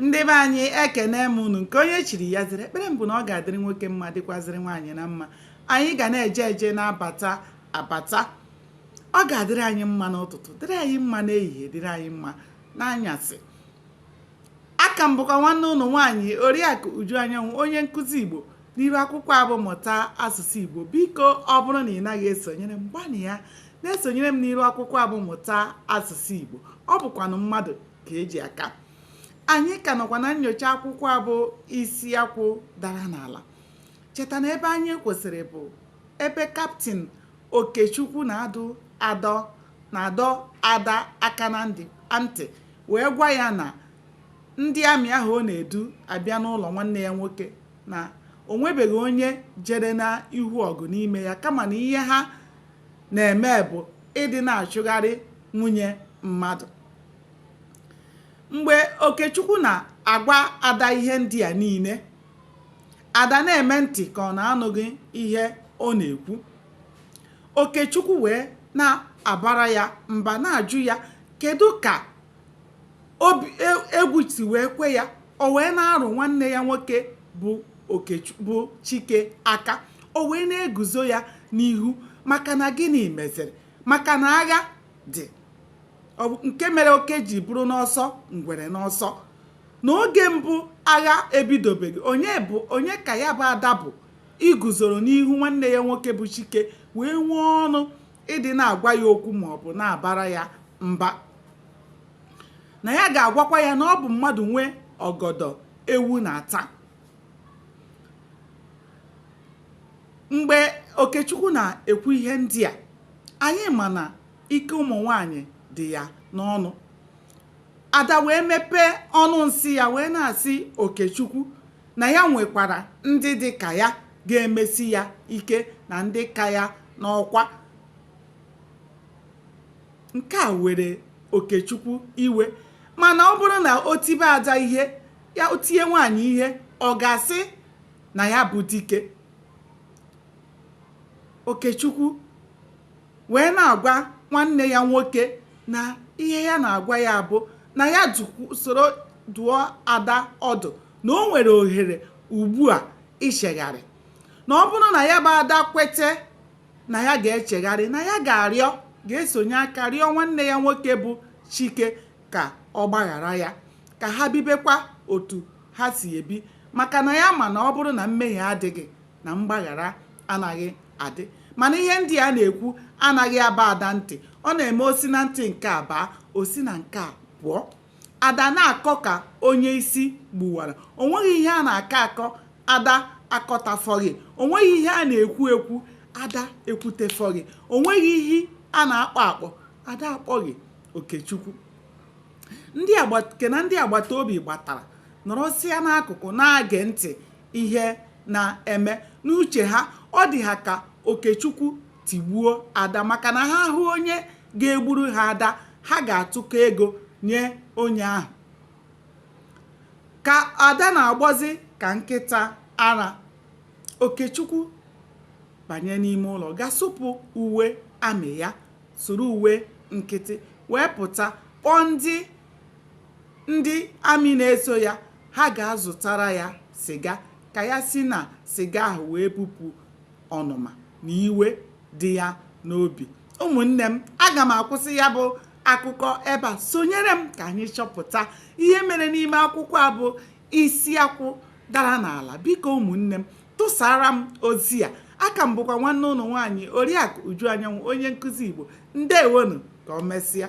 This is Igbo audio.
ndị be anyị ekene m unu nke onye chiri ya zere ekpere m bụ na ọ ga-adịrị nwoke mma dịkwazịrị nwaanyị na mma anyị ga na-eje eje na-abata abata ọ ga-adịrị anyị mma n'ụtụtụ dịrị anyị mma n'ehihie dịrị anyị mma n'anyasị aka m bụkwa nwanne unu nwaanyị oriakụ uju anyanwụ onye nkụzi igbo n'iru akwụkwọ a bụ mụta asụsụ igbo biko ọ bụrụ na ị naghị esonyere m gbanịa na-esonyere m n'iru akwụkwọ a bụ mụta asụsụ igbo ọ bụkwanụ mmadụ ka e ji aka anyị ka nọkwa na nyocha akwụkwọ a bụ isi akwụ dara n'ala cheta na ebe anyị kwụsịrị bụ ebe kaptin okechukwu na-adụ na-adọ ada aka na ntị wee gwa ya na ndị amị ahụ ọ na-edu abịa n'ụlọ nwanne ya nwoke na o nwebeghị onye jere n'ihu ọgụ n'ime ya kama na ihe ha na-eme bụ ịdị na-achụgharị nwunye mmadụ mgbe okechukwu na-agwa ada ihe ndị a niile ada na-eme ntị ka ọ na-anụghị ihe ọ na-ekwu okechukwu wee na-abara ya mba na-ajụ ya kedu ka egwu si wee kwe ya o wee na-arụ nwanne ya nwoke bụ chike aka o wee na-eguzo ya n'ihu maka na gịnị meziri maka na agha dị nke mere oke ji bụrụ n'ọsọ ngwere n'ọsọ na oge mbụ agha ebidobeghị onye ka ya bụ ada bụ iguzoro n'ihu nwanne ya nwoke bụ chike wee nwee ọnụ ịdị na-agwa ya okwu ma ọ bụ na-abara ya mba na ya ga-agwakwa ya na ọ bụ mmadụ nwe ọgọdọ ewu na-ata mgbe okechukwu na-ekwu ihe ndị a anyị ma na Ike ụmụ nwaanyị dị ya n'ọnụ. Ada wee mepee ọnụ nsị ya wee na-asị Okechukwu na ya nwekwara ndị dị ka ya ga-emesi ya ike na ndị ka ya n'ọkwa. Nke a were Okechukwu iwe mana ọ bụrụ na o tibe Ada ihe ya o tie nwaanyị ihe ọ ga-asị na ya bụ dike. Okechukwu wee na-agwa nwanne ya nwoke na ihe ya na-agwa ya bụ na ya soro dụọ ada ọdụ na o nwere ohere ugbu a ichegharị na ọ bụrụ na ya bụ ada kwete na ya ga-echegharị na ya ga-arịọ ga-esonye aka rịọ nwanne ya nwoke bụ chike ka ọ gbaghara ya ka ha bibekwa otu ha si ebi maka na ya ma na ọ bụrụ na mmehie adịghị na mgbaghara anaghị adị mana ihe ndị a na-ekwu anaghị aba ada ntị ọ na-eme o si na ntị nke a baa o si na nke a pụọ ada na-akọ ka onye isi gbuwara o nweghị ihe a na-akọ akọ ada akọtafọghị o nweghị ihe a na-ekwu ekwu ada ekwutefọghị o nweghị ihe a na-akpọ akpọ ada akpọghị okechukwu nke na ndị agbata obi gbatara nọrọsịa n'akụkụ na-age ntị ihe na-eme n'uche ha ọ dị ha ka okechukwu tigbuo ada maka na ha hụ onye ga-egburu ha ada ha ga-atụkọ ego nye onye ahụ ka ada na-agbọzi ka nkịta ara okechukwu banye n'ime ụlọ ga supụ uwe amị ya suru uwe nkịtị wee pụta kpọọ ndị ndị amị na-eso ya ha gaa zụtara ya sịga ka ya si na sịga ahụ wee bupụ ọnụma na iwe dị ya n'obi ụmụnne m aga m akwụsị ya bụ akụkọ ebe a sonyere m ka anyị chọpụta ihe mere n'ime akwụkwọ a bụ isi akwụ dara n'ala biko ụmụnne m tụsara m ozi a aka m bụkwa nwanne unu nwaanyị oriakụ uju anyanwụ onye nkụzi igbo ndewonụ ka o mesịa